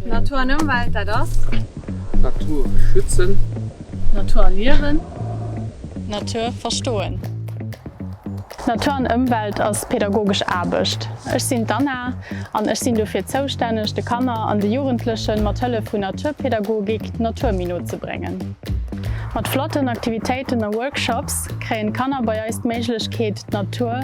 Natur an Ëmwelt, dat ass. Natur schützen. Natur erliewen. Natur verstoen. Natur an Ëmwelt ass pädagogesch Aarbecht. Ech sinn d'Anna an ech sinn dofir zoustänneg, de Kanner an de Jugendlechen mat Hëllef vun Naturpädagogik d'Natur méi no ze bréngen. Mat flotten Aktivitéiten a Workshops kréien d'Kanner bei eis d'Méiglechkeet d'Natur.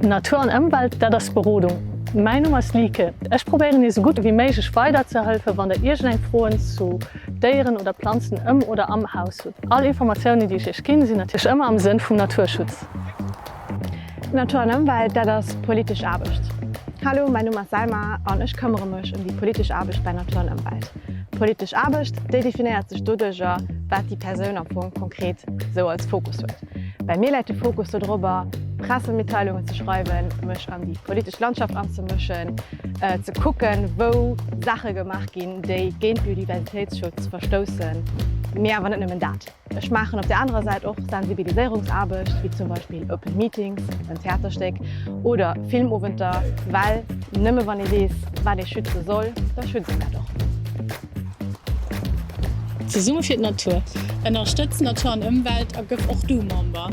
Natur an Ëmwelt, dat ass d'Berodung. Mäin Numm ass Lieke. Ech probéieren iech sou gutt ewéi méiglech weiderzehëlfe wann der iergend eng Froen zu Déieren oder Planzen ëm oder am Haus hutt. All Informatiounen déi ech iech ginn, sinn natierlech ëmmer am Sënn vum Naturschutz. Natur an Ëmwelt, dat ass d'politesch Aarbecht. Hallo, mäin Numm ass Selma an ech këmmere mech ëm déi politesch Aarbecht bei Natur an Ëmwelt. D'politesch Aarbecht, déi definéiert sech doduercher, wat déi Persoun am Fong konkret sou als Fokus huet. Bei mir läit de Fokus dodrobber, Pressemitteilungen ze schreiwen, mech an déi politesch Landschaft anzemëschen, ze kucken, wou Saache gemaach ginn, déi géint Biodiversitéitsschutz verstoussen, mee awer net nëmmen dat. Ech maachen op der anerer Säit och Sensibiliséierungsaarbecht, wéi zum Beispill Open Meetings, en Theaterstéck oder Filmowenter, well nëmme wann ee weess, wat ee schütze soll, da schützt een dat och. Zesumme fir d'Natur! Ënnerstëtz Natur an Ëmwelt a gëff och du Member!